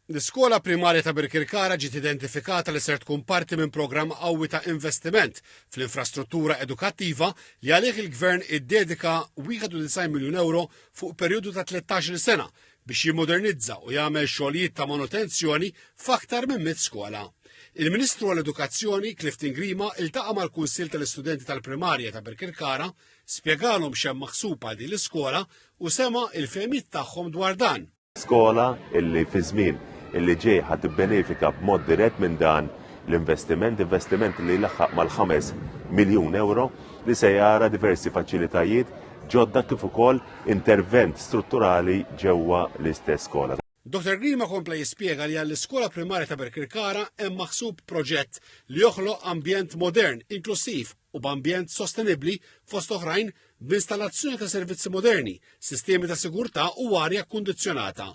L-iskola primarja ta' Birkirkara ġiet identifikata li ser tkun parti minn programm qawwi ta' investiment fl-infrastruttura edukattiva li għalih il-Gvern iddedika 91 miljun ewro fuq perjodu ta' 13-il sena biex jimmodernizza u jagħmel xogħlijiet ta' manutenzjoni f'aktar minn mitt skola. Il-Ministru għall-Edukazzjoni, Clifton Grima, iltaqa' mal-Kunsill tal-Istudenti tal-Primarja ta' Birkirkara Spjegalhom x'hemm maħsub għal din l-iskola u sema' il-fehmiet tagħhom dwar dan. Skola illi fiż-żmien illi ġej ħa tibbenefika b'mod dirett minn dan l-investiment, investiment li jlaħħaq mal-ħames miljun ewro li se jara diversi faċilitajiet ġodda kif ukoll intervent strutturali ġewwa l-istess skola. Dottor Grima kompla jispjega li għall-iskola primarja ta' Birkirkara hemm maħsub proġett li joħloq ambjent modern, inklussiv u b'ambjent sostenibbli fost oħrajn b'installazzjoni ta' servizzi moderni, sistemi ta' sigurtà u arja kkundizzjonata.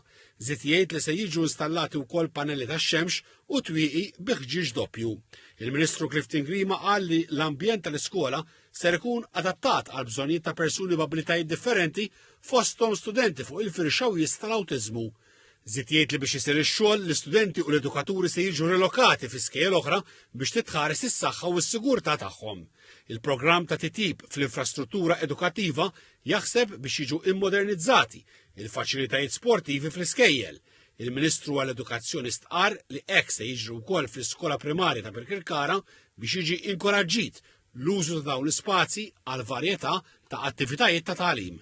Żied jgħid li se jiġu installati wkoll panelli tax-xemx u twieqi bi ħġieġ doppju. Il-Ministru Clifton Grima qal li l-ambjent tal-iskola ser ikun adattat għal bżonnijiet ta' persuni b'abilitajiet differenti fosthom studenti fuq il-firxa wies tal-awtiżmu. Zid jgħid li biex isir ix-xogħol, l-istudenti u l-edukaturi se jiġu rilokati fi skejjel oħra biex titħares is-saħħa u s-sigurtà tagħhom. Il-programm ta' titjib fl-infrastruttura edukattiva jaħseb biex jiġu immodernizzati il-faċilitajiet sportivi fl-iskejjel. Il-Ministru għall-Edukazzjoni stqar li hekk se jiġri wkoll fl-iskola primarja ta' Birkirkara biex jiġi inkoraġġit l-użu ta' dawn l-ispazji għal varjetà ta' attivitajiet ta' tagħlim.